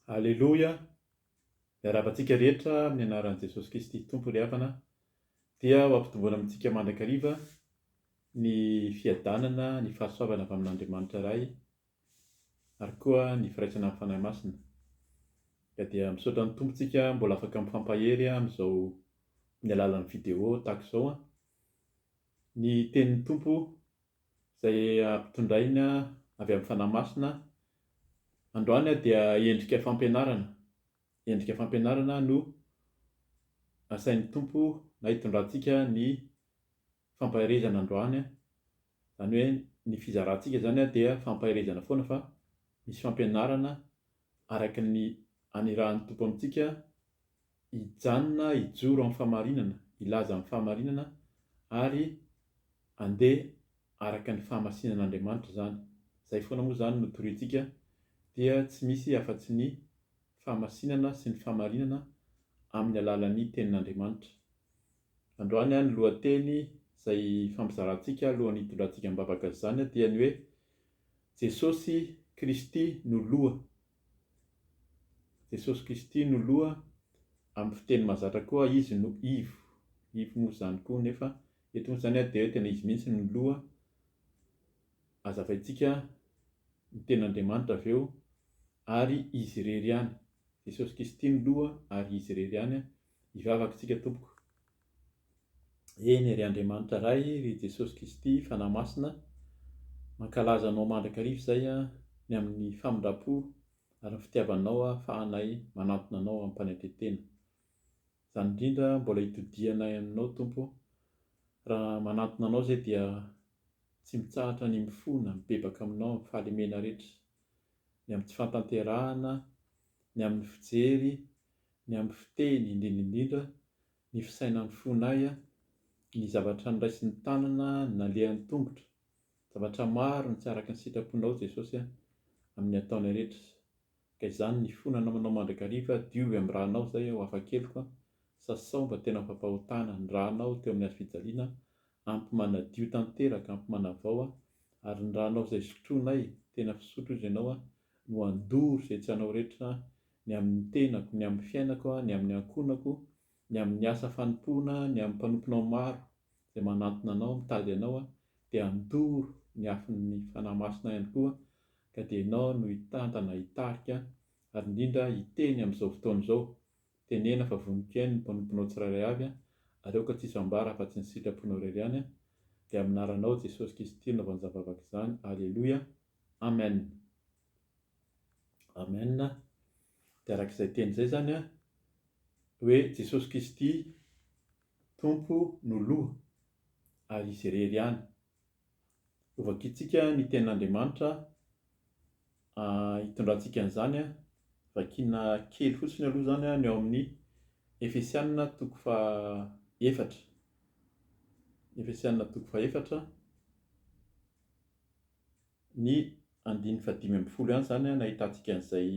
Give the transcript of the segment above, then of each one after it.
Aleloia, miarahaba antsika rehetra amin'ny anaran'i Jesosy Kristy Tompo ry havana, dia ho ampitomboana amintsika mandrakariva ny fiadanana, ny fahasoavana avy amin'Andriamanitra Ray, ary koa ny firaisana amin'ny Fanahy Masina. Ka dia misaotra ny Tompontsika mbola afaka mifampahery amin'izao amin'ny alalan'ny video tahaka izao. Ny tenin'ny Tompo izay ampitondrainy avy amin'ny Fanahy Masina, androany dia endrika fampianarana, endrika fampianarana no asain'ny Tompo na hitondrantsika ny fampaherezana androany, izany hoe ny fizarantsika izany dia fampaherezana foana fa misy fampianarana araka ny hanirahan'ny Tompo amintsika hijanona hijoro amin'ny fahamarinana, hilaza amin'ny fahamarinana ary handeha araka ny fahamasinan'Andriamanitra izany. Izay foana moa izany no toriantsika dia tsy misy afa-tsy ny fahamasinana sy ny fahamarinana amin'ny alalan'ny Tenin'Andriamanitra. Androany ny lohateny izay hifampizarantsika alohan'ny hitondrantsika am-bavaka izany dia ny hoe Jesosy Kristy no Loha. Jesosy Kristy no loha, amin'ny fiteny mahazatra koa Izy no ivo. Ivo moa izany koa nefa eto moa izany dia hoe tena Izy mihitsy no loha, hazavaintsika ny ten'Andriamanitra avy eo ary Izy irery ihany. Jesosy Kristy no loha ary Izy irery ihany, hivavaka isika tompoko. Eny, ry Andriamanitra Ray, ry Jesosy Kristy, Fanahy Masina, mankalaza Anao mandrakariva izay aho, ny amin'ny famindram-po ary ny fitiavanao ahafahanay manantona Anao amim-panetren-tena. Izany indrindra mbola itodihanay aminao, Tompo, raha manantona Anao izay dia tsy mitsahatra ny mifona, mibebaka aminao amin'ny fahalemena rehetra, ny amin'ny tsy fantanterahana, ny amin'ny fijery, ny amin'ny fiteny indrindra indrindra ny fisainan'ny fonay, ny zavatra noraisin'ny tanana, ny nalehan'ny tongotra, zavatra maro no tsy araka ny sitraponao Jesosy a, amin'ny ataonay rehetra, ka izany ny fo nanaonao mandrakariva diovy amin'ny ra nao izay ao hafa keliko a, sasao mba tena fampahotana ny ra nao teo amin'ny hazo fijaliana, ampy manadio tanteraka, ampy manavao a, ary ny ra nao izay sotroinay, tena fisotro izy ianao a, no handoro izay tsy anao rehetra ny amin'ny tenako, ny amin'ny fiainako, ny amin'ny ankohonako, ny amin'ny asa fanompoana, ny amin'ny mpanomponao maro izay manantona anao, mitady anao, dia handoro ny afon'ny Fanahy Masina ihany koa, ka dia ianao no hitantana, hitarika, ary indrindra hiteny amin'izao fotoana izao, tenena fa voniko ihany ny mpanomponao tsirairay avy, ary aoka tsisy ambara afa-tsy ny sitraponao irery ihany, dia amin'ny anaranao Jesosy Kristy no nanaovany izany vavaka izany, aleloia, amen. Amen, dia araka izay teny izay izany an, hoe Jesosy Kristy Tompo no loha ary Izy irery ihany. Hovakintsika ny tenin'Andriamanitra hitondrantsika an'izany an, vakiana kely fotsiny aloha izany an ny ao amin'ny Efesiana toko faha efatra, Efesiana toko faha efatra, Ny andininy fahadimy ambin'ny folo ihany izany an, nahitantsika an'izay,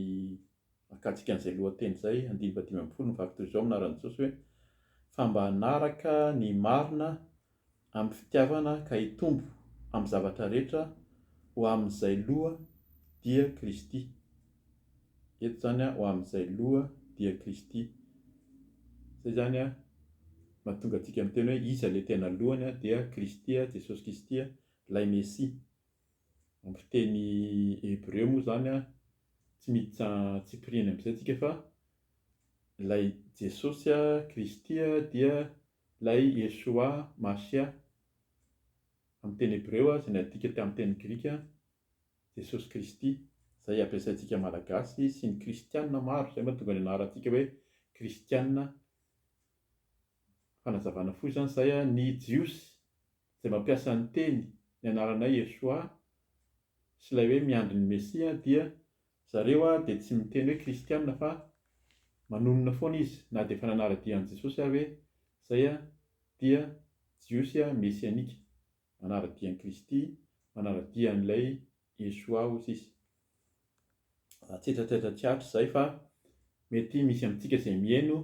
nakatsika an'izay lohateny izay, andininy fahadimy ambin'ny folo, Mivaky toy izao amin'ny anaran'i Jesosy hoe, Fa mba hanaraka ny marina amin'ny fitiavana ka hitombo amin'ny zavatra rehetra ho amin'izay loha, dia Kristy. Eto izany an, ho amin'izay loha, dia Kristy. Izay izany an, mahatonga antsika miteny hoe iza ilay tena lohany an, dia Kristy, Jesosy Kisty, Ilay Mesia. Ampy teny hebreo moa izany an, tsy mety tsy antsipiriany amin'izay tsika fa ilay Jesosy Kristy dia ilay Yeshua Mashiah, amin'ny teny hebreo izay nadika tamin'ny teny grika Jesosy Kristy, izay ampiasaintsika Malagasy sy ny Kristiana maro, izay no mahatonga ny anarantsika hoe Kristiana, fanazavana fohy izany izay an, ny Jiosy. izay mampiasa ny teny ny anaranay Yeshua sy ilay hoe miandry ny Mesia dia zareo dia tsy miteny hoe kristiana fa manonona foana izy na dia efa nanara-dia an'i Jesosy ary hoe izay dia Jiosy mesianika manara-dia an'i Kristy manara-dia an'ilay Yeshua hoy sisa raha tsetra tsetra tsy hatrizay fa mety misy amintsika izay miheno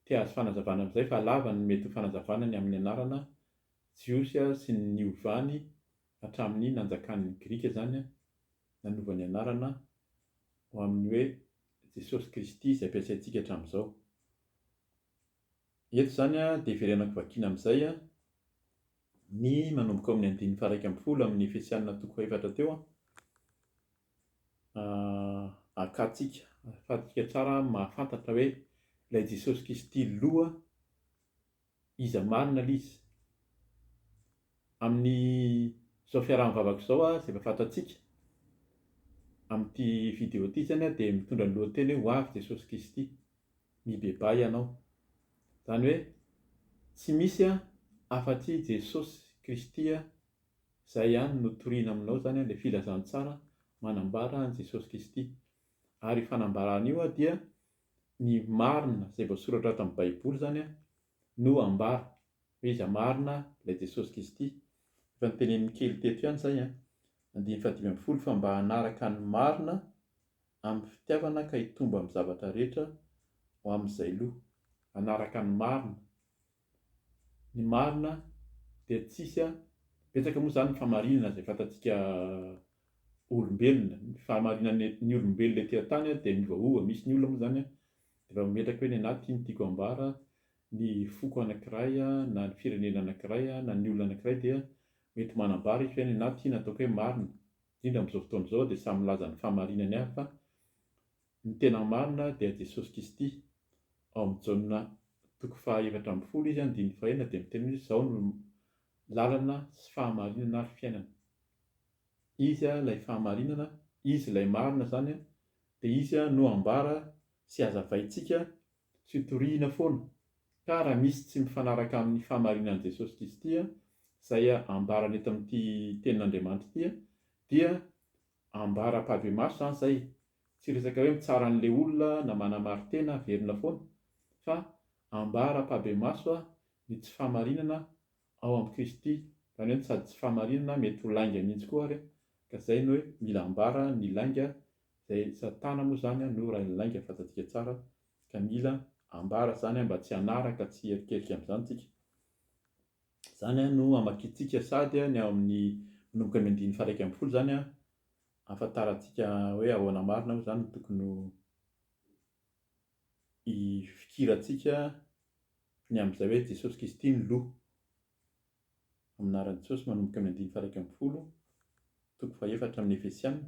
Te ahazo fanazavana amin'izay fa lava ny mety ho fanazavana ny amin'ny anarana Jiosy sy ny niovany hatramin'ny nanjakan'ny Grika izany nanova ny anarana ho amin'ny hoe Jesosy Kristy izay ampiasaintsika hatramin'izao. Eto izany dia hiverenako vakiana amin'izay ny manomboka ao amin'ny andininy faha-iraika ambin'ny folo amin'ny Efesiana toko fahefatra teo. akantsika, ahafahantsika tsara mahafantatra hoe ilay Jesosy Kristy loha iza marina ilay izy. Amin'izao fiaraha-mivavaka izao aho izay efa fantatsika, amin'ity video ity izany aho dia mitondra ny lohateny hoe ho avy Jesosy Kristy, mibebaha ianao. Izany hoe tsy misy afa-tsy Jesosy Kristy Izay ihany no toriana aminao izany ilay filazantsara manambara an'i Jesosy Kristy. Ary io fanambarana io dia ny marina izay voasoratra ato amin'ny Baiboly izany no ambara, hoe iza marina ilay Jesosy Kristy. Efa notenenin'i Kelly teto ihany izay, andininy fahadimy ambin'ny folo, fa mba hanaraka ny marina amin'ny fitiavana ka hitombo amin'ny zavatra rehetra ho amin'izay lo. Hanaraka ny marina. ny marina dia tsisy a, betsaka moa izany ny fahamarinana izay fantatsika olombelona, ny fahamarinana ny olombelona ety an-tany dia miovaova, misy ny olona moa izany dia efa mametraka hoe ny anah ty no tiako ambara, ny foko anankiray na ny firenena anankiray na ny olona anankiray dia mety manambara izy hoe ny anah ty no ataoko hoe marina, indrindra amin'izao fotoana izao dia samy milaza ny fahamarinany avy fa Ny tena marina dia Jesosy Kristy. Ao amin'ny Jaona toko faha efatra ambin'ny folo izy andininy faha enina dia miteny hoe Izaho no lalana sy fahamarinana ary fiainana. Izy ilay fahamarinana, Izy ilay marina izany dia Izy no ambara sy hazavaintsika sy hotorihina foana. Ka raha misy tsy mifanaraka amin'ny fahamarinan'i Jesosy Kristy izay ambarany eto amin'ity tenin'Andriamanitra ity dia ambaram-pahibemaso izany izay Tsy resaka hoe mitsara an'ilay olona na manamarin-tena averina foana, fa ambara am-pahbemaso ny tsy fahamarinana ao amin'i Kristy, izany hoe ny sady tsy fahamarinana mety ho lainga mihitsy koa ary, ka izay no hoe mila ambara ny lainga, izay Satana moa izany no rain'ny lainga fantsantsika tsara, ka mila ambara izany mba tsy hanaraka, tsy hierikerika amin'izany isika. Izany no hamakiantsika sady ny ao amin'ny manomboka ny andininy faha iraika ambin'ny folo izany Ahafantarantsika hoe ahoana marina moa izany no tokony ho ifikirantsika ny amin'izay hoe Jesosy Kristy no Loha. Amin'ny anaran'i Jesosy manomboka amin'ny andininy faha-iraika ambin'ny folo, toko faha-efatra amin'ny Efesiana.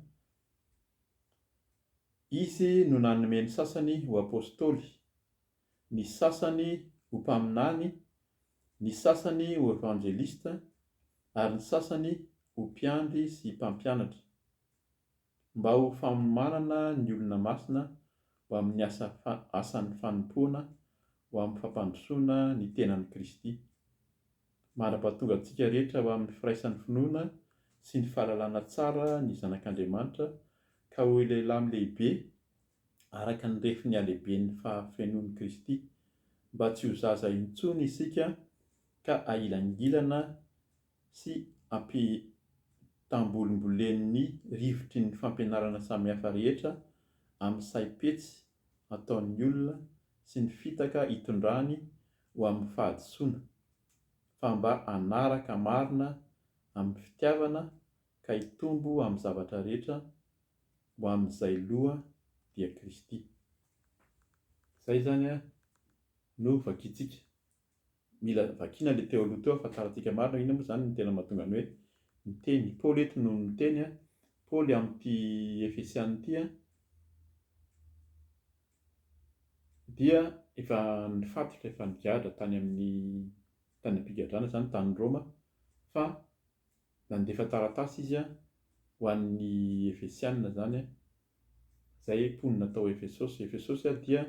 Izy no nanome ny sasany ho apostoly, ny sasany ho mpaminany, ny sasany ho evanjelista, ary ny sasany ho mpiandry sy mpampianatra, mba ho fanomanana ny olona masina ho amin'ny asa asan'ny fanompoana ho amin'ny fampandrosoana ny tenan'i Kristy. Mandrapa tonga antsika rehetra ho amin'ny firaisan'ny finoana sy ny fahalalana tsara ny Zanak'Andriamanitra ka ho lehilahy lehibe araka ny refin'ny halehiben'ny fahafenoan'i Kristy, mba tsy ho zaza intsony isika ka ahilangilana sy ampitambolimbolen'ny rivotry ny fampianarana samihafa rehetra amin'ny saim-petsy ataon'ny olona sy ny fitaka itondrany ho amin'ny fahadisoana, fa mba hanaraka marina amin'ny fitiavana ka hitombo amin'ny zavatra rehetra ho amin'izay loha dia Kristy. Izay izany no vakintsika. Mila vakiana ilay teo aloha teo ahafantarantsika marina hoe inona moa izany no tena mahatonga ny hoe miteny. I Paoly eto no miteny, Paoly amin'ity Efesiana ity dia efa nifatotra, efa nigadra tany amin'ny tany am-pigadrana izany, tany Roma, fa nandefa taratasy izy ho an'ny Efesiana izany, izay mponina tao Efesosy. Efesosy dia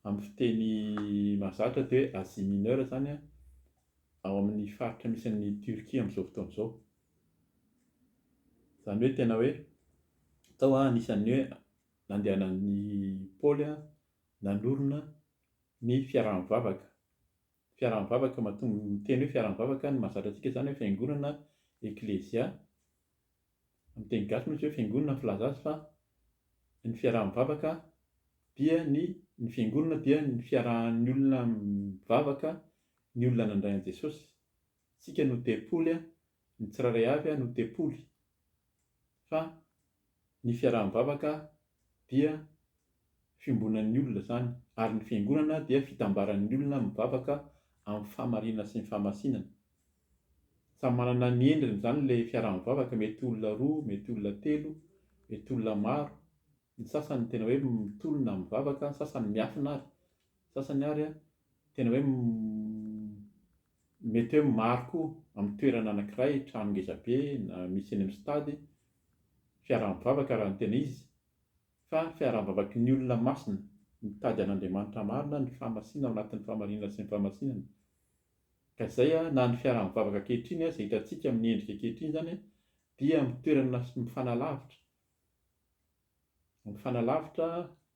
amin'ny fiteny mahazatra dia hoe Asie Mineure izany, ao amin'ny faritra misy an'i Turquie amin'izao fotoana izao. Izany hoe tena hoe tao anisan'ny hoe nandehanan'i Paoly nanorina ny fiaraha-mivavaka. fiaraha-mivavaka mahatonga ny teny hoe fiaraha-mivavaka ny mahazatra antsika izany hoe fiangonana eklezia amin'ny teny gasy moa izy hoe fiangonana ny filaza azy fa ny fiaraha-mivavaka dia ny ny fiangonana dia ny fiarahan'ny olona mivavaka ny olona nandray an'i Jesosy Tsika no tempoly a, ny tsirairay avy a no tempoly, fa ny fiaraha-mivavaka dia fiombonan'ny olona izany, ary ny fiangonana dia fitambaran'ny olona mivavaka amin'ny fahamarinana sy ny fahamasinana. Samy manana ny endriny izany ilay fiaraha-mivavaka, mety olona roa, mety olona telo, mety olona maro, ny sasany tena hoe mitolona mivavaka, ny sasany miafina ary, ny sasany ary a, tena hoe m. Mety hoe maro koa amin'ny toerana anankiray, trano ngeza be na misy eny amin'ny stade, fiaraha-mivavaka raha ny tena izy, fa ny fiaraha-bavaky ny olona masina, mitady an'Andriamanitra marina, ny fahamasina ao anatin'ny fahamarinana sy ny fahamasinana. Ka izay na ny fiaraha-mivavaka ankehitriny aza hitantsika amin'ny endrika ankehitriny izany dia amin'ny toerana mifanalavitra, mifanalavitra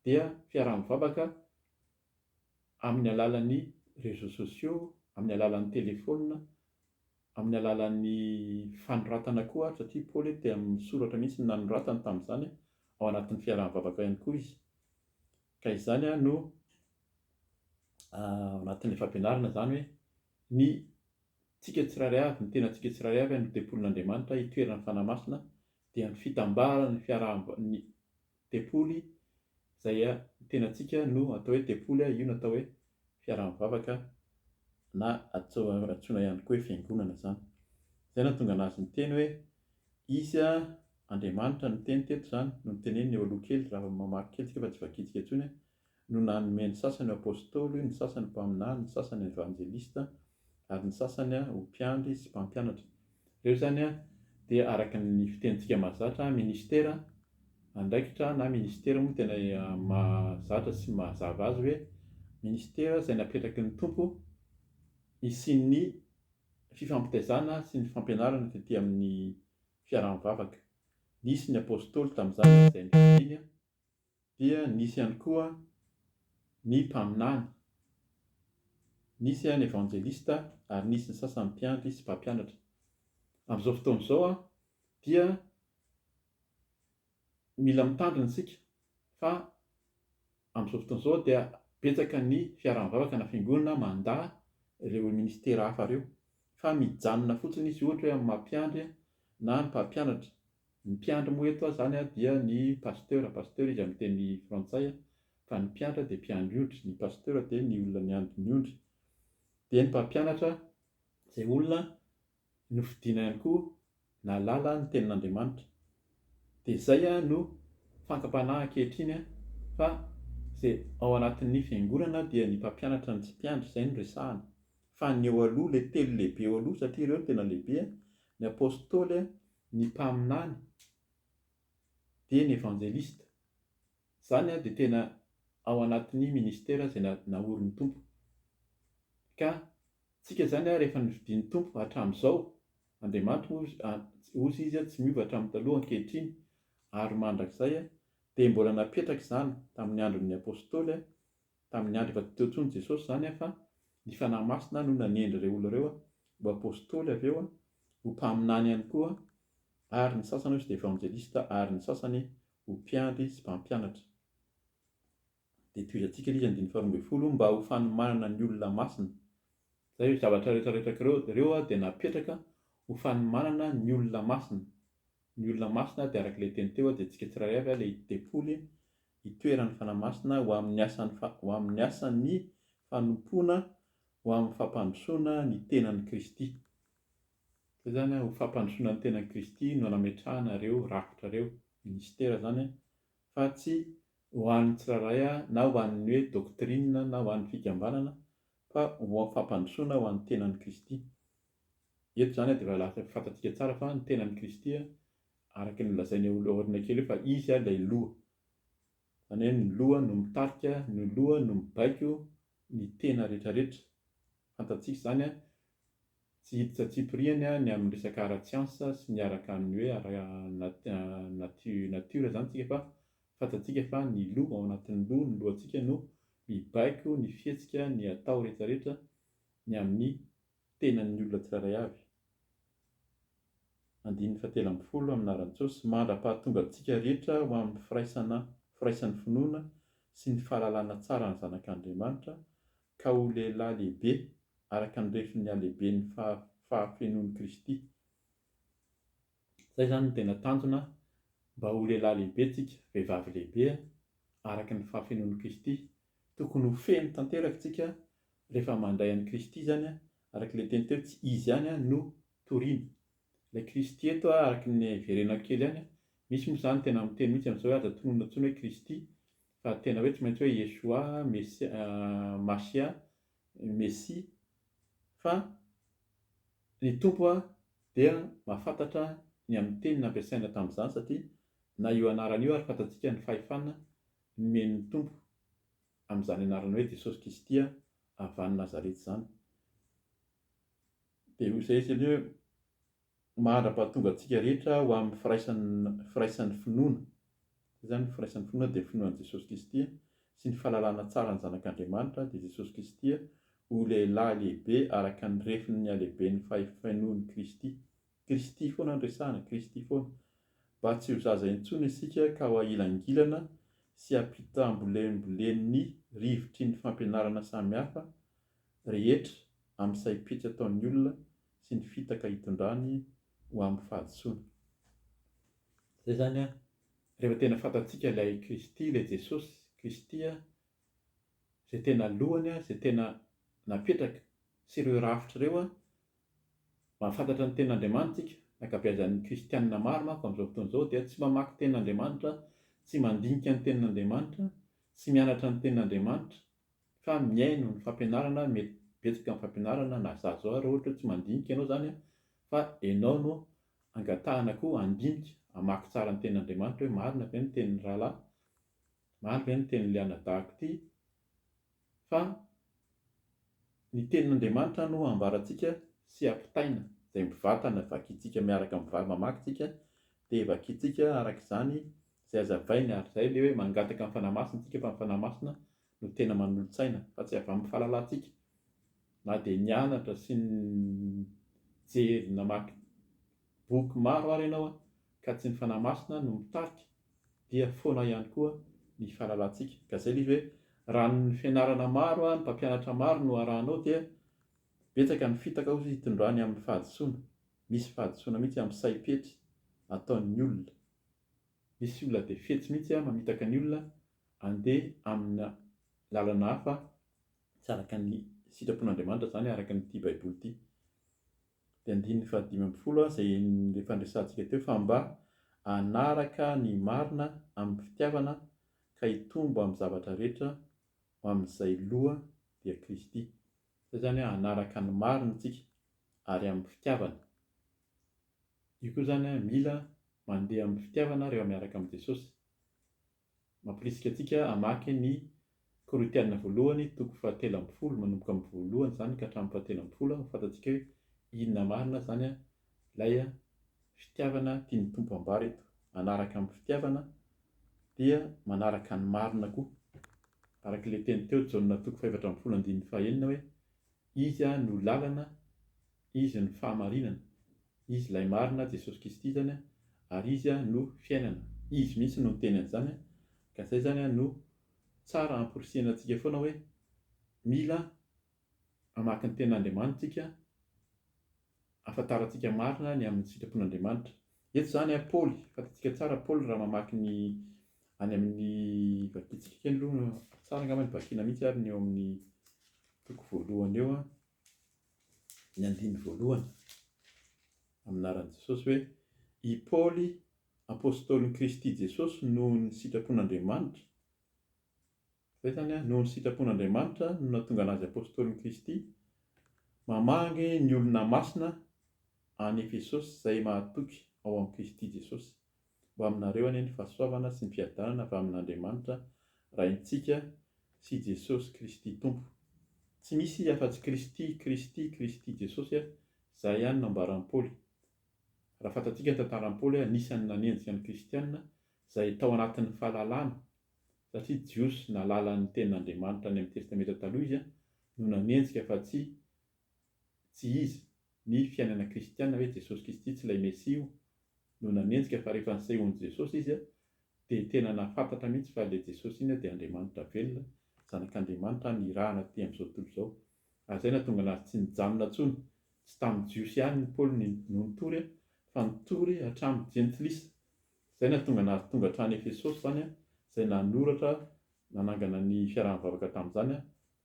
dia fiaraha-mivavaka amin'ny alalan'ny réseaux sociaux, amin'ny alalan'ny telefaonina, amin'ny alalan'ny fanoratana koa ary satria Paoly dia amin'ny soratra mihitsy no nanoratany tamin'izany, ao anatin'ny fiaraha-mivavaka ihany koa izy. Ka izany no ao anatin'ilay fampianarana izany hoe ny tsika tsirairay avy, ny tenantsika tsirairay avy no tempolin'Andriamanitra itoeran'ny Fanahy Masina dia ny fitambaran'ny fiaraha-, ny tempoly izay a tenantsika no atao hoe tempoly a io no atao hoe fiaraha-mivavaka na atso antsoina ihany koa hoe fiangonana izany izay no ahatonga anazy niteny hoe izy a Andriamanitra no niteny teto izany no niteneniny eo aloha kely raha mamaky kely tsika fa tsy vakintsika intsony a no nanome ny sasany ho apôstôly, ny sasany mpaminany, ny sasany evanjelista, ary ny sasany ho mpiandry sy mpampianatra. Ireo izany dia araka ny fitenintsika mahazatra, ministera, andraikitra, na ministera moa no tena mahazatra sy mahazava azy hoe ministera izay napetraky ny Tompo hisian'ny fifampitaizana sy ny fampianarana tety amin'ny fiaraha-mivavaka. Nisy ny apôstôly tamin'izany, izay nofidiany. dia nisy ihany koa ny mpaminany, nisy ihany evanjelista ary nisy ny sasany mpiandry sy mpampianatra. Amin'izao fotoana izao dia mila mitandrina isika fa amin'izao fotoana izao dia betsaka ny fiaraha-mivavaka na fiangonana mandà ireo ministera hafa ireo fa mijanona fotsiny izy ohatra hoe amin'ny maha mpiandry na ny mpampianatra. Ny mpiandry moa eto zany dia ny pasteur, pasteur izy amin'ny teny frantsay, fa ny mpiandry dia mpiandry ondry, ny pasteur dia ny olona miandry ny ondry, dia ny mpampianatra izay olona nofidina ihany koa nahalala ny tenin'Andriamanitra, dia izay no fankam-panahy ankehitriny fa izay ao anatin'ny fiangonana dia ny mpampianatra no tsy mpiandry, izay no resahana, fa ny eo aloha, ilay telo lehibe eo aloha, satria ireo no tena lehibe, ny apostoly, ny mpaminany dia ny evanjelista, izany dia tena ao anatin'ny ministera izay naorin'ny Tompo, ka tsika izany rehefa nofidian'ny Tompo hatramin'izao, Andriamanitra moa ozy Izy tsy miova hatramin'ny taloha ankehitriny ary mandrakizay, dia mbola napetraka izany tamin'ny andron'ny Apostoly, Tamin'ny andro efa tsy teo intsony Jesosy izany an, fa ny Fanahy Masina no nanendry ireo olona ireo ho Apostoly avy eo, ho mpaminany ihany koa, ary ny sasany ozy Evanjelista ary ny sasany ho mpiandry sy mpampianatra. Dia tohizantsika ilay izy andininy faharoa ambin'ny folo mba ho fanomanana ny olona masina. Izay hoe zavatra rehetra rehetra ireo ireo dia napetraka ho fanomanana ny olona masina. Ny olona masina dia araka ilay teny teo dia antsika tsirairay avy ilay tempoly itoeran'ny Fanahy Masina ho amin'ny asan'ny ho amin'ny asan'ny fanompoana ho amin'ny fampandrosoana ny tenan'i Kristy. Izay izany an, ho fampandrosoana ny tenan'i Kristy no nametrahana ireo rafitra ireo, ministera izany an, fa tsy ho an'ny tsirairay na ho an'ny hoe doctrine na ho an'ny fikambanana fa ho amin'ny fampandrosoana ho an'ny tenan'i Kristy. Eto izany an dia efa fantatsika tsara fa ny tenan'i Kristy araka ny nolazainy eo aloha aoriana kely eo fa izy ilay loha. Izany hoe ny loha no mitarika, ny loha no mibaiko ny tena rehetrarehetra. Fantatsika izany, tsy hiditra antsipirihany ny amin'ny resaka ara-tsiansa sy ny araka ny hoe ara-natiora izany isika fa fantatsika fa ny loha, ao anatin'ny loha, ny lohantsika no mibaiko ny fihetsika, ny atao rehetrarehetra ny amin'ny tenan'ny olona tsirairay avy. Andininy fahatelo ambin'ny folo amin'ny anaran'i Jesosy, mandra-pahatonga antsika rehetra ho amin'ny firaisana firaisan'ny finoana sy ny fahalalana tsara ny Zanak'Andriamanitra, ka ho lehilahy lehibe araka ny refin'ny halehiben'ny fahafenoan'i Kristy. Zay zany no tena tanjona mba ho lehilahy lehibe tsika vehivavy lehibe araka ny fahafenoan'i Kristy. Tokony ho feno tanteraka tsika rehefa mandray an'i Kristy zany araka ilay teny teo tsy Izy ihany no toriana. Ilay Kristy eto araka ny hiverenako kely ihany misy moa zany tena miteny mihitsy amin'izao hoe aza tononina intsony hoe Kristy fa tena hoe tsy maintsy hoe Yeshua, Mashia, Mesia fa Ny Tompo dia mahafantatra ny amin'ny teny nampiasaina tamin'izany satria na io anarana io ary fantatsika ny fahefana nomen'ny Tompo amin'izany anarana hoe Jesosy Kristy avy any Nazareta izany. Dia hoy izay izy hoe mahandrapahatonga antsika rehetra ho amin'ny firaisan'ny finoana. Izany firaisan'ny finoana dia finoana an'i Jesosy Kristy sy ny fahalalana tsara ny Zanak'Andriamanitra, dia Jesosy Kristy ho lehilahy lehibe araka ny refin'ny halehiben'ny fahefenoan'i Kristy. Kristy foana no resahana, Kristy foana. Mba tsy ho zaza intsony isika ka ho ahilangilana sy hampitambolembolen'ny rivotry ny fampianarana samihafa rehetra amin'ny saim-pihetsy ataon'ny olona sy ny fitaka hitondrany ho amin'ny fahadisoana. Zay zany an, rehefa tena fantatsika ilay Kristy, ilay Jesosy Kristy an, izay tena lohany an, izay tena napetraka, sy ireo rafitra ireo an, mahafantatra ny Tenin'Andriamanitra tsika, ny ankabeazan'ny Kristianina maro manko amin'izao fotoana izao dia tsy mamaky Tenin'Andriamanitra, tsy mandinika ny Tenin'Andriamanitra, tsy mianatra ny Tenin'Andriamanitra, fa mihaino ny fampianarana, mety betsaka ny fampianarana na zaza aza ohatra hoe tsy mandinika ianao izany an, fa ianao no angatahana koa handinika, hamaky tsara ny tenin'Andriamanitra hoe marina ve ny tenin'ny rahalahy, marina ve ny tenin'ilay anadahako ity, fa ny tenin'Andriamanitra no hambarantsika sy hampitaina, izay mivantana vakintsika miaraka amin'ny vava mamaky tsika dia vakintsika araka izany izay hazavainy ary izay ilay hoe mangataka ny Fanahy Masina isika fa ny Fanahy Masina no tena manolo-tsaina fa tsy avy amin'ny fahalalantsika na dia nianatra sy nijery namaky boky maro ary ianao ka tsy ny Fanahy Masina no mitarika dia foana ihany koa ny fahalalantsika ka izay ilay izy hoe raha ny fianarana maro ny mpampianatra maro no arahanao dia betsaka ny fitaka hozy hitondrany amin'ny fahadisoana misy fahadisoana mihitsy amin'ny saim-petry ataon'ny olona misy olona dia fetsy mihitsy mamitaka ny olona handeha amina lalana hafa tsy araka ny sitrapon'Andriamanitra izany araka an'ity Baiboly ity. Dia andininy fahadimy ambin'ny folo izay efa niresahantsika teo fa mba hanaraka ny marina amin'ny fitiavana ka hitombo amin'ny zavatra rehetra ho amin'izay loha dia Kristy. Izay izany hoe hanaraka ny marina isika ary amin'ny fitiavana. Io koa izany mila mandeha amin'ny fitiavana rehefa miaraka amin'i Jesosy. Mamporisika antsika hamaky ny Korintiana voalohany toko fahatelo ambin'ny folo, manomboka amin'ny voalohany izany ka hatramin'ny fahatelo ambin'ny folo, ho fantatsika hoe inona marina izany ilay fitiavana tian'ny Tompo hambara eto. Manaraka amin'ny fitiavana dia manaraka ny marina koa. Araka ilay teny teo Jaona toko fahefatra ambin'ny folo andininy fahenina hoe, Izy no lalana, Izy no fahamarinana. Izy ilay marina, Jesosy Kristy izany, ary Izy no fiainana. Izy mihitsy no niteny an'izany, ka izay izany no tsara hamporisihina antsika foana hoe mila hamaky ny Tenin'Andriamanitra isika hahafantarantsika marina ny amin'ny sitrapon'Andriamanitra. Eto izany Paoly, fantatsika tsara Paoly raha mamaky ny any amin'ny, vakintsika kely aloha, tsara angamba ny vakina mihitsy ary ny eo amin'ny toko voalohany eo, ny andininy voalohany amin'ny anaran'i Jesosy hoe, I Paoly, apostolin'i Kristy Jesosy noho ny sitrapon'Andriamanitra, izay izany an, noho ny sitrapon'Andriamanitra no nahatonga an'azy apostolin'i Kristy, mamangy ny olona masina any Efesosy izay mahatoky ao amin'i Kristy Jesosy. Ho aminareo anie ny fahasoavana sy ny fiadanana avy amin'Andriamanitra Raintsika sy i Jesosy Kristy Tompo. Tsy misy afa-tsy Kristy, Kristy, Kristy Jesosy a, izay ihany no ambaran'i Paoly. Raha fantatsika ny tantaran'i Paoly a, anisan'ny nanenjika ny Kristianina izay tao anatin'ny fahalalana, satria Jiosy nahalala ny tenin'Andriamanitra any amin'ny Testamenta Taloha izy a, no nanenjika fa tsy Tsy izy. Ny fiainana kristiana hoe Jesosy Kristy tsy ilay Mesia io no nanenjika fa rehefa nisehoan'i Jesosy izy dia tena nahafantatra mihitsy fa ilay Jesosy iny dia Andriamanitra velona, Zanak'Andriamanitra nirahana aty amin'izao tontolo izao. Ary izay nahatonga anazy tsy nijanona intsony. Tsy tamin'ny Jiosy ihany i Paoly no nitory fa nitory hatramin'ny Jentilisa. Izay nahatonga anazy tonga hatrany Efesosy izany izay nanoratra Nanangana ny fiaraha-mivavaka tamin'izany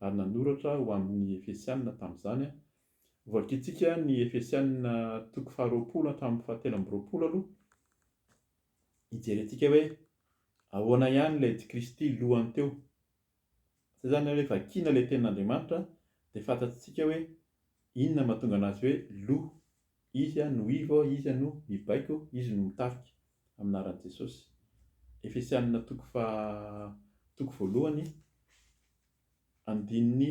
ary nanoratra ho amin'ny Efesianina tamin'izany. Hovakintsika ny Efesianina toko faharoapolo hatramin'ny fahatelo amby roapolo aloha. Hijerentsika hoe ahoana ihany ilay dy Kristy lohany teo. Izay izany hoe vakiana ilay tenin'Andriamanitra dia fantatsika hoe inona no mahatonga anazy hoe loha. Izy no ivo, Izy no mibaiko, Izy no mitarika. Amin'ny anaran'i Jesosy. Efesianina toko faha toko voalohany andininy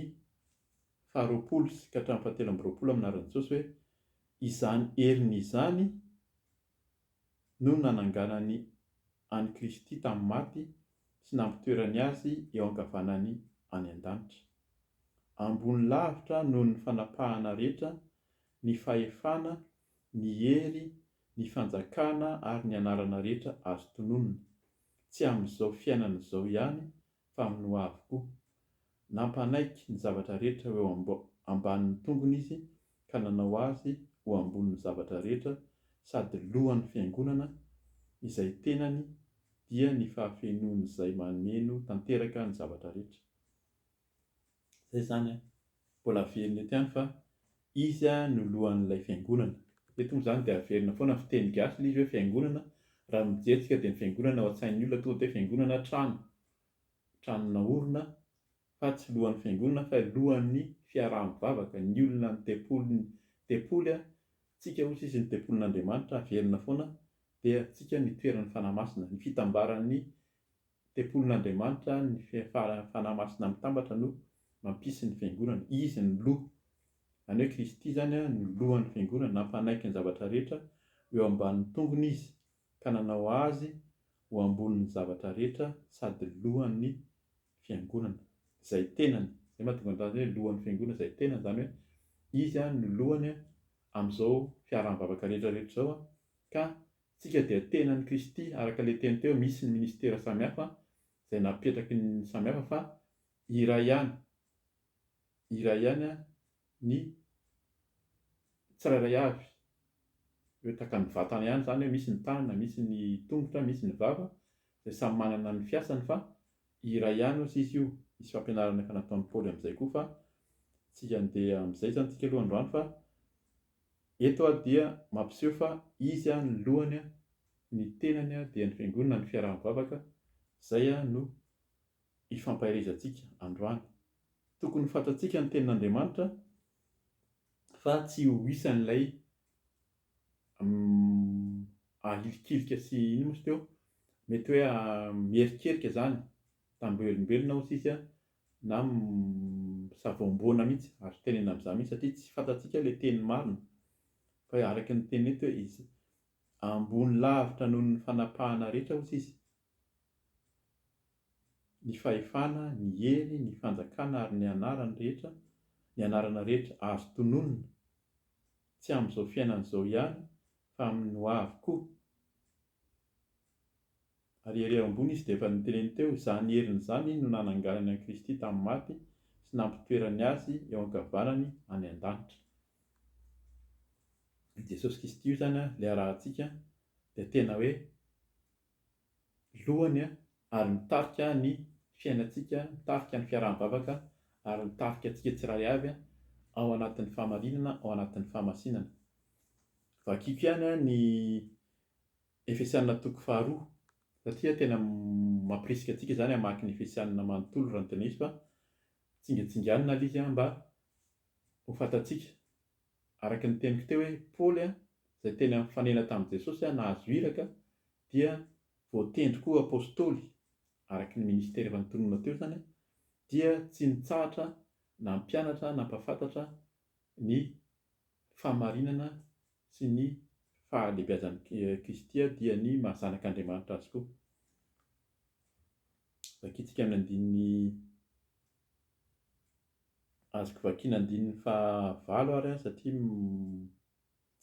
faharoapolo sy ka hatramin'ny fahatelo amby roapolo amin'ny anaran'i Jesosy hoe, Izany heriny izany no nananganany an'i Kristy tamin'ny maty sy nampitoerany Azy eo ankavanany any an-danitra. Ambony lavitra noho ny fanapahana rehetra ny fahefana, ny hery, ny fanjakana ary ny anarana rehetra azo tononina, tsy amin'izao fiainana izao ihany fa amin'ny ho avy koa. Nampanaiky ny zavatra rehetra ho eo ambanin'ny tongony izy ka nanao azy ho ambonin'ny zavatra rehetra sady lohan'ny fiangonana, izay tenany dia ny fahafenoan'izay mameno tanteraka ny zavatra rehetra. Izay izany an! Mbola averina eto ihany fa izy no lohan'ilay fiangonana. Eto moa izany dia averina foana ny fiteny gasy ilay izy hoe fiangonana, raha ny mijery tsika dia ny fiangonana ao an-tsain'ny olona tonga dia hoe fiangonana trano, trano naorina fa tsy lohan'ny fiangonana fa lohan'ny fiaraha-mivavaka, ny olona ny tempoly, ny tempoly an! tsika hoy sisa ny tempolin'Andriamanitra averina foana dia tsika ny toeran'ny Fanahy Masina, ny fitambaran'ny Tempolin'Andriamanitra ny Fanahy Masina Mitambatra no mampisy ny Fiangonana. Izy no Loha. Izany hoe Kristy izany no Lohan'ny Fiangonana. Nampanaiky ny zavatra rehetra eo ambanin'ny tongony Izy ka nanao Azy ho ambonin'ny zavatra rehetra sady Lohan'ny Fiangonana, izay tenany. Izay mahatonga an'izany hoe Lohan'ny Fiangonana izay tenany, izany hoe Izy no Lohany amin'izao fiaraha-mivavaka rehetra rehetra izao ka Tsika dia tena an'i Kristy araka ilay teny teo misy ny ministera samihafa izay napetraky ny samihafa fa iray ihany iray ihany ny tsirairay avy hoe tahaka ny vatana ihany izany hoe misy ny tanana misy ny tongotra misy ny vava izay samy manana ny fiasany fa iray ihany osa izy io misy fampianarana efa nataon'i Paoly amin'izay koa fa tsika andeha amin'izay izany tsika aloha androany fa Eto aho dia mampiseho fa izy aho no lohany, ny tenany aho dia ny Fiangonana, ny fiaraha-mivavaka, izay aho no ifampaherezantsika androany. Tokony ho fantatsika ny Tenin'Andriamanitra fa tsy ho isan'ilay ahilikilika sy inona moa izy teo? mety hoe miherikerika izany, tamim-belombelona hoy sisa na misavoamboana mihitsy ary tenenina amin'izany mihitsy satria tsy fantatsika ilay teny marina fa araka ny teniny eto hoe izy ambony lavitra noho ny fanapahana rehetra hozy izy ny fahefana, ny hery, ny fanjakana ary ny anarany rehetra, ny anarana rehetra azo tononina, tsy amin'izao fiainana izao ihany fa amin'ny hoavy koa. Ary ery ambony izy dia efa niteneny teo, izany heriny izany no nananganany an'i Kristy tamin'ny maty sy nampitoerany Azy eo ankavanany any an-danitra. I Jesosy Kisty io izany ilay arahantsika dia tena hoe lohany ary mitarika ny fiainantsika, mitarika ny fiaraha-mivavaka ary mitarika antsika tsirairay avy ao anatin'ny fahamarinana, ao anatin'ny fahamasinana. Vakiko ihany ny. Efesianina toko faharoa. Satria tena mampirisika antsika izany hamaky ny Efesianina manontolo raha ny tena izy fa tsingetsinganina ilay izy mba ho fantatsika. Araka ny teniko teo hoe Paoly izay tena nifanena tamin'i Jesosy nahazo iraka dia voatendry koa ho apostoly araka ny minisitera efa nitonona teo izany dia tsy nitsahatra nampianatra nampahafantatra ny fahamarinana sy ny fahalebiazan'i Kristy aho dia ny maha zanak'Andriamanitra azy koa. Vakintsika amin'ny andininy azoko vakiana andininy fahavalo ary an satria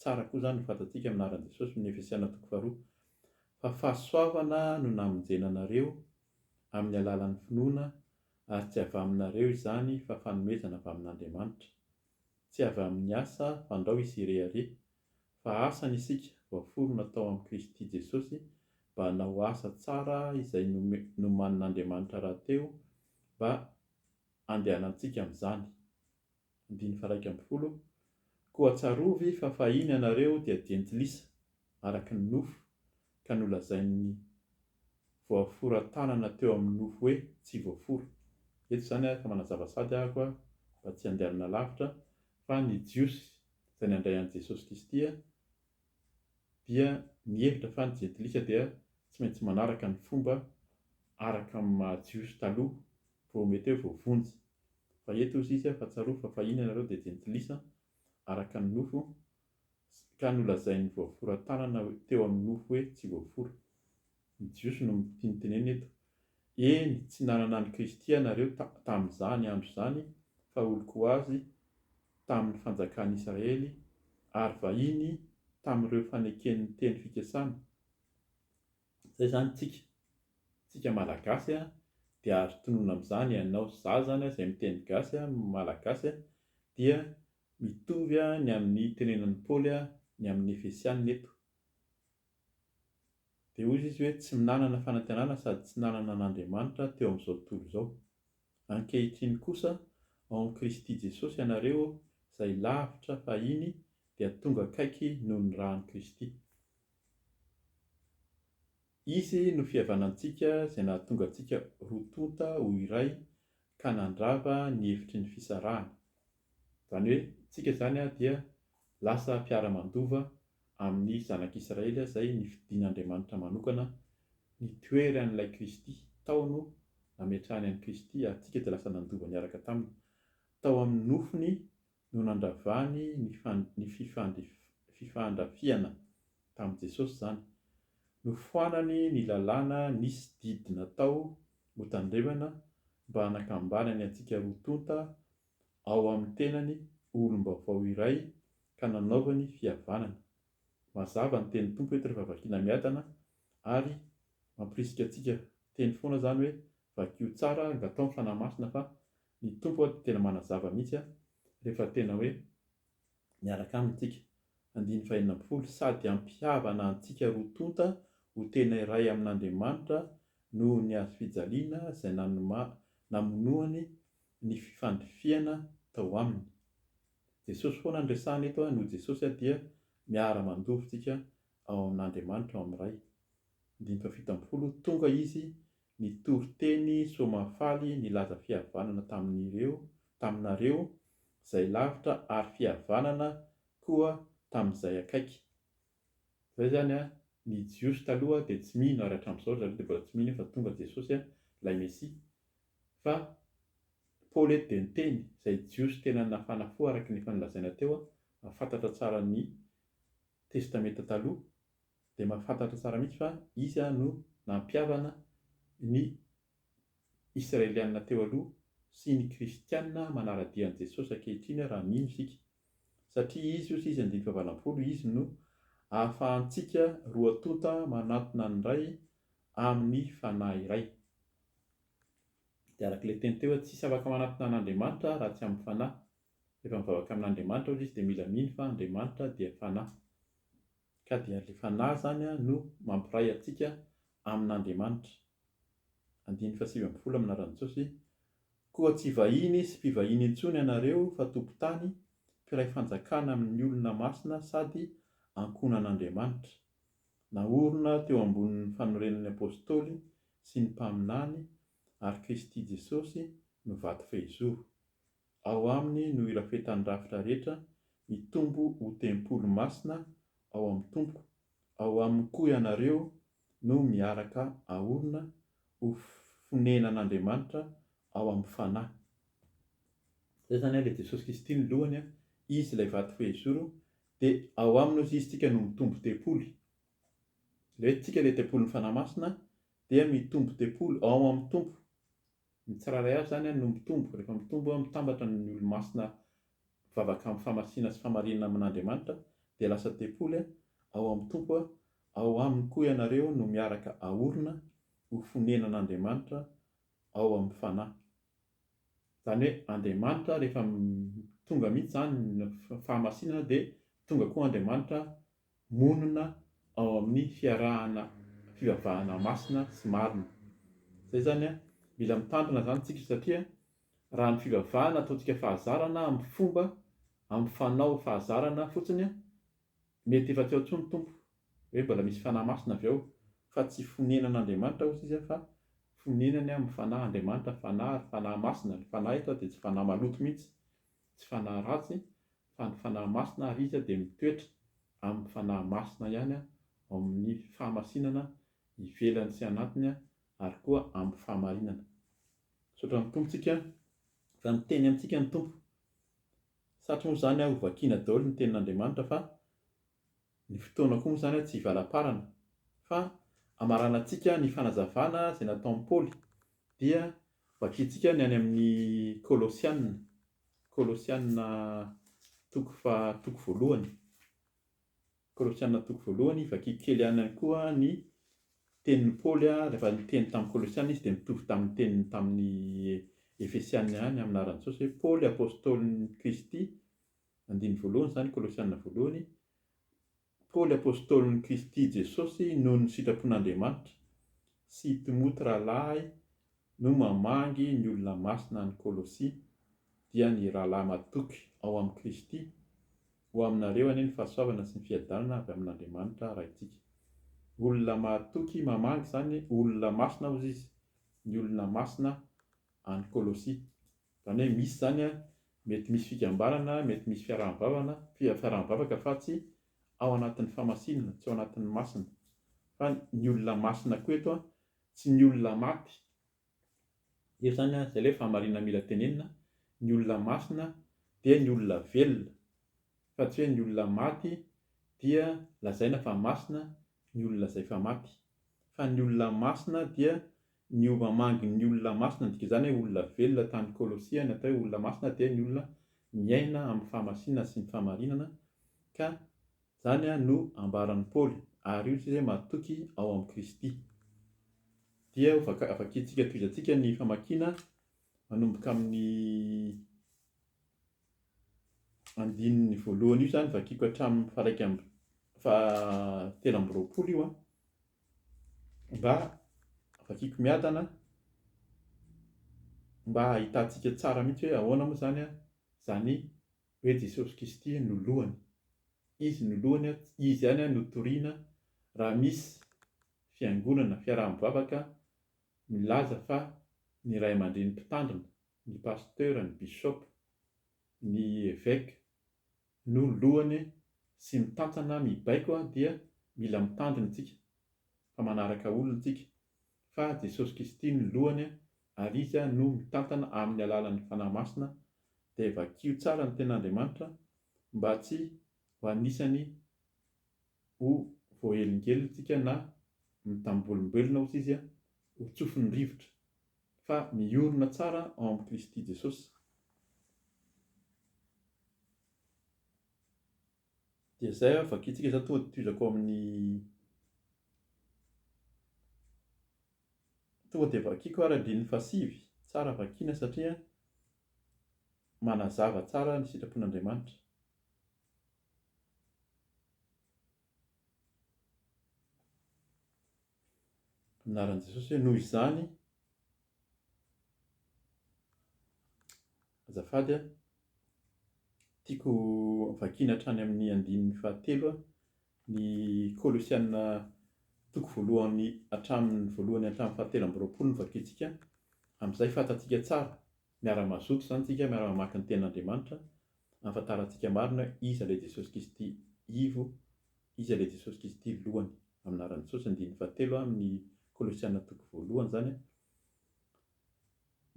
tsara koa izany no fantatsika amin'ny anaran'i Jesosy amin'ny Efesiana toko faharoa fa fahasoavana no namonjena anareo amin'ny alalan'ny finoana ary tsy avy aminareo izany fa fanomezana avy amin'Andriamanitra. Tsy avy amin'ny asa fandrao isy irehareha, fa asa ny isika voaforona tao amin'i Kristy Jesosy mba hanao asa tsara izay nomanin'Andriamanitra rahateo mba handehanantsika amin'izany. Andininy faha iraika ambin'ny folo, Koa tsarovy fa fahiny ianareo dia jentilisa, araka ny nofo ka nolazain'ny voafora tanana teo amin'ny nofo hoe tsy voafora. Eto izany aho efa manazava sady ahako aho mba tsy handehanana lavitra fa ny Jiosy izay nandray an'i Jesosy Kristy dia nihevitra fa ny Jentilisa dia tsy maintsy manaraka ny fomba araka amin'ny maha Jiosy taloha vao mety hoe voavonjy. Fa eto hoy izy fa tsarovy fa fahiny ianareo dia Jentilisa araka ny nofo ka nolazain'ny voaforan-tanana teo amin'ny nofo hoe tsy voafora. Ny Jiosy no mitinitenena eto. Eny, tsy nanana an'i Kristy ianareo tamin'izany andro izany, fa oloko ho azy tamin'ny fanjakan'i Israely, ary vahiny tamin'ireo faneken'ny teny fikasana. Izay izany tsika. Tsika Malagasy dia azo tononina amin'izany ianao zaza izay miteny gasy, malagasy, dia Mitovy ny amin'ny tenenin'i Paoly ny amin'ny Efesianina eto. Dia hoy izy hoe tsy nanana fanantenana sady tsy nanana an'Andriamanitra teo amin'izao tontolo izao. Ankehitriny kosa ao amin'i Kristy Jesosy ianareo izay lavitra fahiny dia tonga akaiky noho ny ràn'i Kristy. Izy no fihavanantsika izay nahatonga antsika roa tonta ho iray ka nandrava ny hevitry ny fisarahana. Izany hoe isika izany dia lasa mpiara-mandova amin'ny zanak'Israely izay nifidin'Andriamanitra manokana nitoery an'ilay Kristy tao no nametrahany an'i Kristy ary isika dia lasa nandova niaraka taminy tao amin'ny nofony no nandravany ny fifandrafiana tamin'i Jesosy izany. Nofoanany ny lalàna nisy didy natao ho tandrevana mba hanakambanany antsika roa tonta ao amin'ny tenany ho olom-baovao iray ka nanaovany fihavanana. Mazava ny tenin'ny Tompo eto rehefa vakiana miadana ary mampirisika antsika teny foana izany hoe vakio tsara, angataho ny Fanahy Masina fa Ny Tompo ody tena manazava mihitsy a, rehefa tena hoe miaraka Aminy tsika. Andininy fahenina ambin'ny folo, Sady hampihavana antsika roa tonta ho tena iray amin'Andriamanitra noho ny hazofijaliana izay nanoma namonoany ny fifandrifihana tao Aminy. Jesosy foana no resahina eto a, noho Jesosy a dia miara-mandovo tsika ao amin'Andriamanitra ao amin'ny Ray. Andininy fahafito ambin'ny folo, Tonga Izy Nitory teny Soamahafaly nilaza fihavanana tamin'ireo, taminareo, zay lavitra ary fihavanana koa tamin'izay akaiky. Zay zany an, ny Jiosy taloha dia tsy mino ary hatramin'izao ry zareo dia mbola tsy mino fa tonga Jesosy an, ilay Mesia. Fa Paoly eto dia niteny, izay Jiosy tena nafana fo araka ny efa nolazaina teo an, fantatra tsara ny Testamenta Taloha, dia mahafantatra tsara mihitsy fa izy no nampihavana ny Israeliana teo aloha sy ny Kristiana manara-dia an'i Jesosy ankehitriny raha mino isika. Satria izy io sy izy andininy fahavalo ampolo, izy no ahafahantsika roa tonta manatona ny Ray amin'ny Fanahy iray. Dia araka ilay teny teo hoe tsy hisy afaka manatona an'Andriamanitra raha tsy amin'ny Fanahy. Rehefa mivavaka amin'Andriamanitra hozy izy dia mila mino fa Andriamanitra dia Fanahy. Ka dia ilay Fanahy izany no mampiray antsika amin'Andriamanitra. Andininy fahasivy ambin'ny folo amin'ny anaran'i Jesosy, Koa tsy vahiny sy mpivahiny intsony ianareo fa tompon-tany, mpiray fanjakana amin'ny olona masina sady ankohonan'Andriamanitra. Naorina teo ambonin'ny fanorenan'ny Apostoly sy ny Mpaminany ary Kristy Jesosy no vato fehizoro. Ao aminy no irafetan'ny rafitra rehetra hitombo ho tempoly masina ao amin'ny Tompo, ao aminy koa ianareo no miaraka aorina ho fonenan'Andriamanitra ao amin'ny Fanahy. Izay izany ilay Jesosy Kristy no lohany, Izy ilay vato fehizoro, dia ao aminy hozy Izy tsika no mitombo tempoly. Ilay hoe tsika ilay tempolin'ny Fanahy Masina dia mitombo tempoly ao amin'ny Tompo. Ny tsirairay avy izany no mitombo, rehefa mitombo, mitambatra ny olo-masina mivavaka amin'ny famasina sy famarinana amin'Andriamanitra dia lasa tempoly ao amin'ny Tompo, ao Aminy koa ianareo no miaraka aorina ho fonenan'Andriamanitra ao amin'ny Fanahy. Izany hoe Andriamanitra rehefa tonga mihitsy izany ny fahamasinana dia tonga koa Andriamanitra monina ao amin'ny fiarahana fivavahana masina sy marina. Zay zany an! Mila mitandrina zany tsika satria raha ny fivavahana ataontsika fahazarana amin'ny fomba amin'ny fanao fahazarana fotsiny an! Mety efa tsy ao tsony Tompo hoe mbola misy fanahy masina avy ao fa tsy fonenan' Andriamanitra ozy izy fa fonenany amin'ny fanahy Andriamanitra fanahy ary fanahy masina, ny fanahy eto dia tsy fanahy maloto mihitsy tsy fanahy ratsy fa ny fanahy masina ary izy dia mitoetra amin'ny fanahy masina ihany ao amin'ny fahamasinana ivelany sy anatiny ary koa amin'ny fahamarinana. Misaotra ny Tompontsika fa miteny amintsika ny Tompo. Satry moa izany ho vakiana daholo ny tenin'Andriamanitra fa ny fotoana koa moa izany tsy hivalamparana fa hamaranantsika ny fanazavana izay nataon'i Paoly dia Vakintsika ny any amin'ny Kolosiana, Kolosiana toko faha toko voalohany, Kolosiana toko voalohany, vakiako kely ihany koa ny tenin'i Paoly rehefa niteny tamin'ny Kolosiana izy dia mitovy tamin'ny teniny tamin'ny Efesiana ihany amin'ny anaran'i Jesosy hoe Paoly apostolin'i Kristy, andininy voalohany izany Kolosiana voalohany, Paoly Apôstôlin'i Kristy Jesôsy noho ny sitrapon'Andriamanitra sy Timoty rahalahy no mamangy ny olona masina any Kôlôsy, dia ny rahalahy matoky ao amin'i Kristy, Ho aminareo anie ny fahasoavana sy ny fiadanana avy amin'Andriamanitra Raintsika. Olona matoky mamangy izany olona masina hozy izy, ny olona masina any Kôlôsy. Zany hoe misy zany an, mety misy fikambanana, mety misy fiaraha-mivavana, fiaraha-mivavaka fa tsy ao anatin'ny famasinana, tsy ao anatin'ny masina. Fa ny olona masina koa eto an, tsy ny olona maty. Eto zany an, zay ilay fahamarinana mila tenenina, ny olona masina dia ny olona velona, fa tsy hoe ny olona maty dia lazaina fa masina ny olona zay fa maty. Fa ny olona masina dia Niova mangy ny olona masina, ny dikan'izany hoe olona velona tany Kolosia, ny atao hoe olona masina dia ny olona miaina amin'ny fahamasinana sy ny fahamarinana, ka izany no ambaran'i Paoly, ary io sisa hoe matoky ao amin'i Kristy. Dia ho vaka, vakintsika, tohizantsika ny famakiana manomboka amin'ny. andininy voalohany io izany vakiko hatramin'ny faha-iraika amby fahatelo amby roapolo io an, mba vakiko miadana mba hahitantsika tsara mihitsy hoe ahoana moa izany an, izany hoe Jesosy Kristy no lohany, Izy no lohany an, Izy ihany no toriana raha misy fiangonana, fiaraha-mivavaka milaza fa ny ray aman-dreny mpitandrina ny pasteur, ny bishop, ny evêque no lohany sy mitantana mibaiko dia mila mitandrina tsika fa manaraka olona tsika fa Jesosy Kristy no lohany ary izy no mitantana aminy alalan'ny Fanahy Masina dia vakio tsara ny Tenin'Andriamanitra mba tsy ho anisany ho voaelingelina tsika na mitambolomboelina ohatr'izy ho tsofin'ny rivotra. Fa miorina tsara ao amin'i Kristy Jesosy, dia izay aho, vakintsika izany tonga dia tohizako ao amin'ny, tonga dia vakiako ary andininy fahasivy, tsara vakiana satria manazava tsara ny sitrapon'Andriamanitra. anaran'i Jesosy hoe noho izany azafady a, tiako vakiana hatrany amin'ny andininy fahatelo ny Kolosiana toko voalohany hatramin'ny voalohany hatramin'ny fahatelo amby roapolo no vakintsika, amin'izay fantatsika tsara Miara-mazoto izany tsika miara-mamaky ny tenin' Andriamanitra, ahafantarantsika marina hoe Iza ilay Jesosy Kristy Ivo, Iza ilay Jesosy Kristy Lohany, amin'ny anaran'i Jesosy, andininy fahatelo amin'ny Kolosiana toko voalohany izany.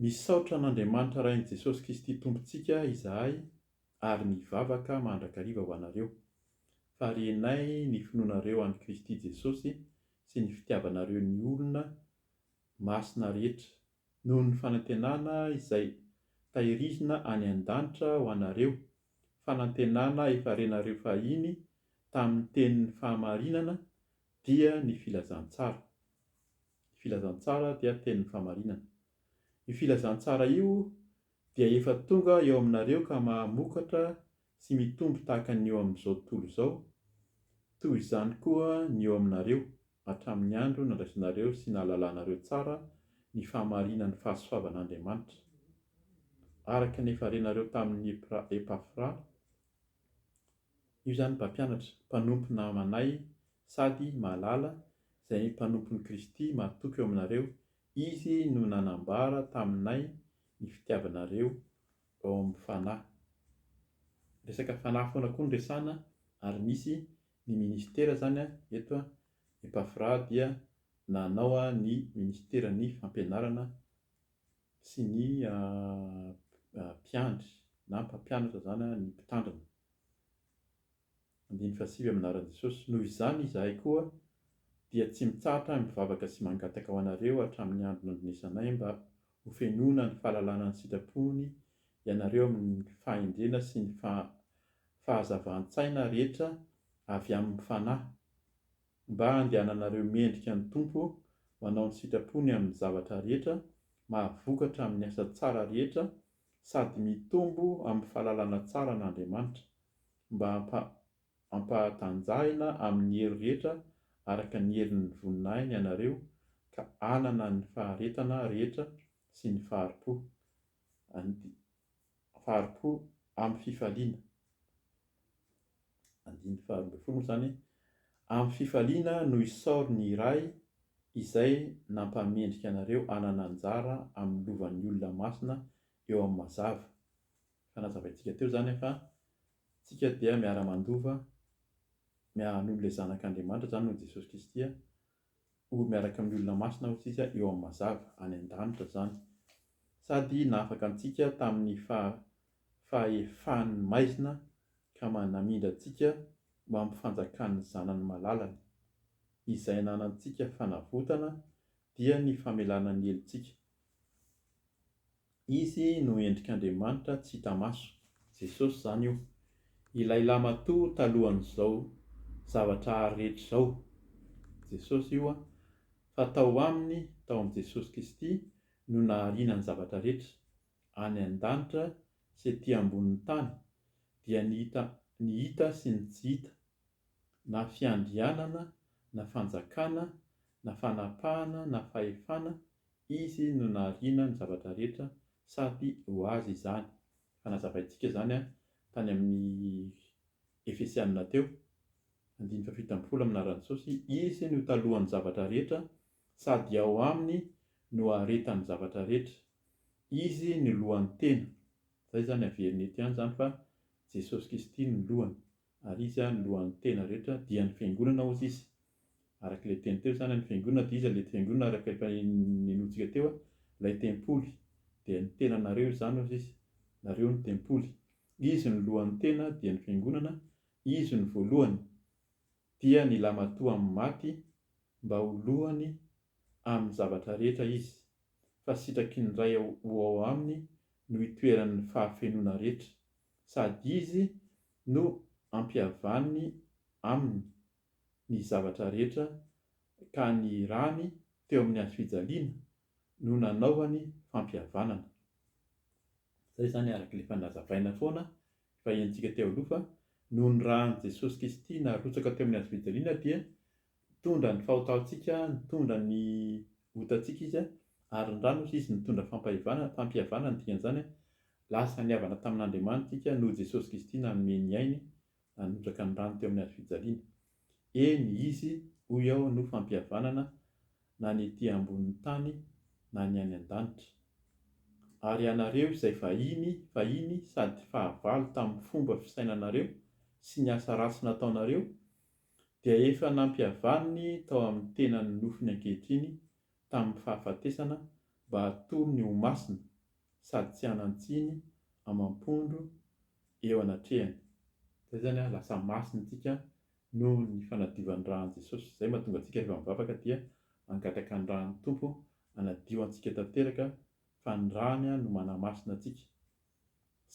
Misaotra an' Andriamanitra Rain'i Jesosy Kristy Tompontsika izahay ary mivavaka mandrakariva ho anareo, fa renay ny finoanareo an'i Kristy Jesosy sy ny fitiavanareo ny olona masina rehetra noho ny fanantenana izay tahirizina any an-danitra ho anareo, fanantenana efa renareo fahiny tamin'ny tenin'ny fahamarinana, dia ny filazantsara. Ny filazantsara dia tenin'ny fahamarinana. Io filazantsara io dia efa tonga eo aminareo ka mahamokatra Tsy mitombo tahaka ny eo amin'izao tontolo izao, toy izany koa ny eo aminareo, hatramin'ny andro nandraisanareo sy nahalalanareo tsara ny fahamarinan'ny fahasoavan'Andriamanitra, araka ny efa renareo tamin'i Epafra, io izany mpampianatra, mpanompo namanay sady mahalala, izay mpanompon'i Kristy mahatoky eo aminareo, izy no nanambara taminay ny fitiavanareo vao mifanahy. Resaka fanahy foana koa no resahana ary misy ny ministera izany an, eto an, i Pafra dia nanao ny ministeran'ny fampianarana sy ny mpiandry na mpampianatra izany an, ny mpitandrina. Andininy fahasivy amin'ny anaran'i Jesosy. Noho izany izahay koa dia tsy mitsahatra mivavaka sy mangataka ho anareo hatramin'ny andro nandrenesanay mba ho fenoina ny fahalalana ny sitrapony ianareo amin'ny fahendrena sy ny fahazavan-tsaina rehetra avy amin'ny Fanahy mba handehananareo mendrika ny Tompo manao ny sitrapony amin'ny zavatra rehetra mahavokatra amin'ny asa tsara rehetra sady mitombo amin'ny fahalalana tsara an'Andriamanitra mba hampahatanjahina amin'ny hery rehetra araka ny herin'ny voninahiny ianareo ka hanana ny faharetana rehetra sy ny fahari-po, and. Fahari-po amin'ny fifaliana. Andininy faharoa ambin'ny folo moa izany, Amin'ny fifaliana no isaory ny Ray izay nampahamendrika anareo hanana anjara amin'ny lovan'ny olona masina eo amin'ny mazava. Fa nazavaintsika teo izany fa tsika dia miara-mandova, miara-hanolo ilay Zanak' Andriamanitra, izany no Jesosy Kristy, ho miaraka amin'ny olona masina hoy isika eo amin'ny mazava, any an-danitra izany. Sady nahafaka antsika tamin'ny faha, fahefany maizina ka namindra antsika ho amin'ny fanjakan'ny Zanany malalany. Izay ananantsika fanavotana dia ny famelana ny helotsika. Izy no endrik'Andriamanitra tsy hita maso. Jesosy izany io. Ilay Lamatoa talohan'izao zavatra hary rehetra izao. Jesosy io an. Fa tao Aminy, tao amin'i Jesosy Kristy, no nahariana ny zavatra rehetra. Any an-danitra sy ety ambonin'ny tany, dia ny hita, ny hita sy ny tsy hita, na fiandrianana, na fanjakana, na fanapahana, na fahefana, Izy no nahariana ny zavatra rehetra, sady ho Azy izany. Efa nazavaintsika izany tany amin'ny Efesiana teo, andininy fahafito ambin'ny folo amin'ny anaran'i Jesosy, Izy no talohan'ny zavatra rehetra, sady ao Aminy no aharetan'ny zavatra rehetra. Izy no lohan'ny tena. Izay izany averina eto ihany izany fa Jesosy Kristy no lohany. Ary izy ary lohan'ny tena rehetra dia ny fiangonana hozy izy. Araka ilay teny teo izany, ny fiangonana dia iza? Ilay fiangonana araka efa ninoantsika teo, ilay tempoly. Dia ny tenanareo izany hozy izy. Nareo no tempoly. Izy no lohan'ny tena dia ny fiangonana, izy no voalohany. Dia nilamatoa amin'ny maty mba ho lohany amin'ny zavatra rehetra izy. Fa sitraky ny Ray ho ao aminy no itoeran'ny fahafenoana rehetra. Sady izy no ampihavaniny aminy ny zavatra rehetra ka ny rany teo amin'ny hazo fijaliana no nanaovany fampihavanana. Izay izany araka ilay efa nazavaina foana efa henontsika teo aloha fa noho ny ran'i Jesosy Kristy narotsaka teo amin'ny hazo fijaliana dia Nitondra ny fahotantsika, nitondra ny otantsika Izy, ary ny rany, hoy Izy, nitondra fampahevanana, fampihavana no dikan'izany, lasa nihavana tamin'Andriamanitra isika noho Jesosy Kristy nanome ny ainy, nanondraka ny rany teo amin'ny hazo fijaliana. Eny, Izy, hoy aho, no fampihavanana, na ny ety ambonin'ny tany, na ny any an-danitra. Ary ianareo izay vahiny, fahiny, sady fahavalo tamin'ny fomba fisainanareo sy ny asa ratsy nataonareo, dia efa nampihavaniny tao amin'ny tenany ny nofony ankehitriny tamin'ny fahafatesana mba hatoro ny ho masina sady tsy hanan-tsiny amam-pondro eo anatrehany. Izay izany an, lasa masina isika noho ny fanadiovan'ny ran'i Jesosy. Izay mahatonga antsika rehefa mivavaka dia hangataka ny ran'ny Tompo hanadio antsika tanteraka fa ny rany no manamasina antsika.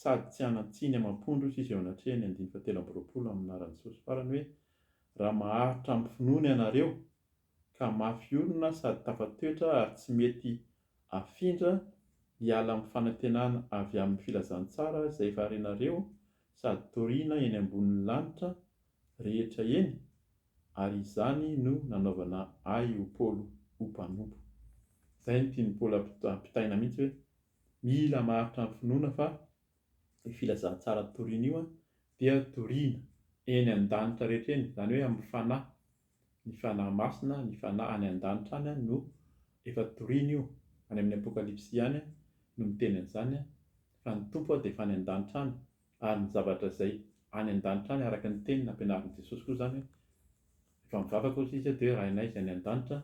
sady tsy hanan-tsiny amam-pondro sisa eo anatrehan'ny andiny fahatelo amby roapolo amin'ny anaran'i Jesosy farany hoe, Raha maharitra amin'ny finoana ianareo, ka mafy orina sady tafatoetra ary tsy mety afindra hiala amin'ny fanantenana avy amin'ny filazantsara izay efa renareo sady toriana eny ambonin'ny lanitra rehetra eny, ary izany no nanaovana ahy ho Paolo ho mpanompo. Izay no tian'i Paolo ampitaina mihitsy hoe, Mila maharitra ny finoana fa io filazantsara toriana io dia toriana eny an-danitra rehetra eny, izany hoe amin'ny Fanahy, ny Fanahy Masina, ny Fanahy any an-danitra any no efa toriana io, any amin'ny Apokalypsy ihany no miteny an'izany fa ny Tompo dia efa any an-danitra any, ary ny zavatra izay any an-danitra any araka ny teny nampianarin'i Jesosy koa izany hoe efa mivavaka hoy Izy dia hoe Rainay izay any an-danitra,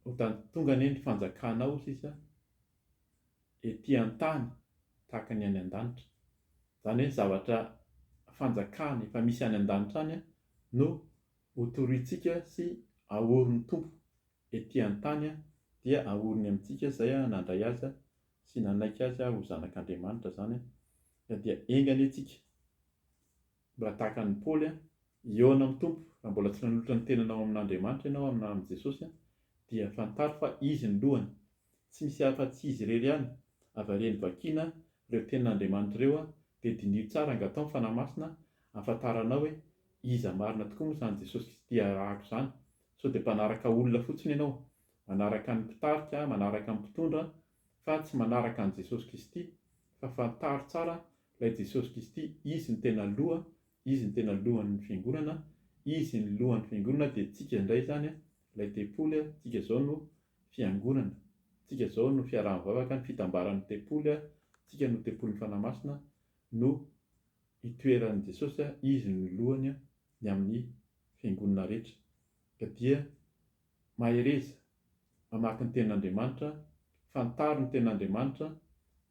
Ho tany tonga anie ny fanjakanao sisa ety an-tany tahaka ny any an-danitra. Izany hoe ny zavatra fanjakana efa misy any an-danitra any no ho torointsika sy ahorin'ny Tompo ety an-tany dia ahoriny amintsika izay nandray Azy sy nanaiky Azy ho Zanak'Andriamanitra izany dia enga anie tsika Mbola tahaka an'i Paoly an! Hihaona amin'ny Tompo, raha mbola tsy nanolotra ny tenanao amin'Andriamanitra ianao aminà amin'i Jesosy an, dia fantaro fa Izy no lohany. Tsy misy hafa afa-tsy Izy irery ihany. Avariany vakiana ireo tenin'Andriamanitra ireo an, dia diniho tsara angataho ny Fanahy Masina hahafantaranao hoe iza marina tokoa moa izany Jesosy Kristy arahako izany. Sao dia mpanaraka olona fotsiny ianao? Manaraka ny mpitarika, manaraka ny mpitondra, fa tsy manaraka an'i Jesosy Kristy fa fantaro tsara ilay Jesosy Kristy izy no tena loha izy no tena lohan'ny fiangonana izy ny lohan'ny fiangonana dia tsika indray izany ilay tempoly tsika izao no fiangonana tsika izao no fiaraha-mivavaka ny fitambaran'ny tempoly tsika no tempolin'ny Fanahy Masina no itoeran'i Jesosy izy no lohany ny amin'ny fiangonana rehetra ka dia Mahereza, mamaky ny Tenin'Andriamanitra, fantaro ny Tenin'Andriamanitra,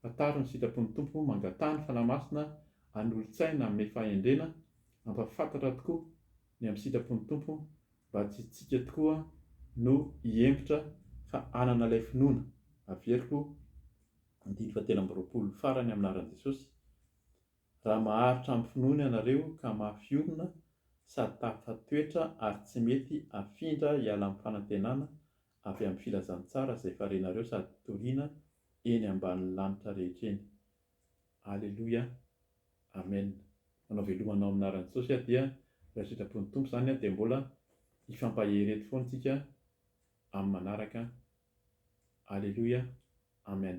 fantaro ny sitrapon'ny Tompo, mangataha ny Fanahy Masina hanolo-tsaina hanome fahendrena, hampahafantatra tokoa ny amin'ny sitrapon'ny Tompo mba tsy isika tokoa no hihemotra fa hanana ilay finoana, averiko andininy fahatelo amby roapolo farany amin'ny anaran'i Jesosy, Raha maharitra amin'ny finoana ianareo ka mafy orina sady tafafa toetra ary tsy mety afindra hiala amin'ny fanantenana avy amin'ny filazantsara izay farenareo sady toriana eny ambanin'ny lanitra rehetra eny. Aleloia. Amen. Manao velomana ao amin'ny anaran'i Jesosy aho dia raha sitrapon'ny Tompo izany dia mbola hifampahereto foana tsika amin'ny manaraka. Aleloia. Amen.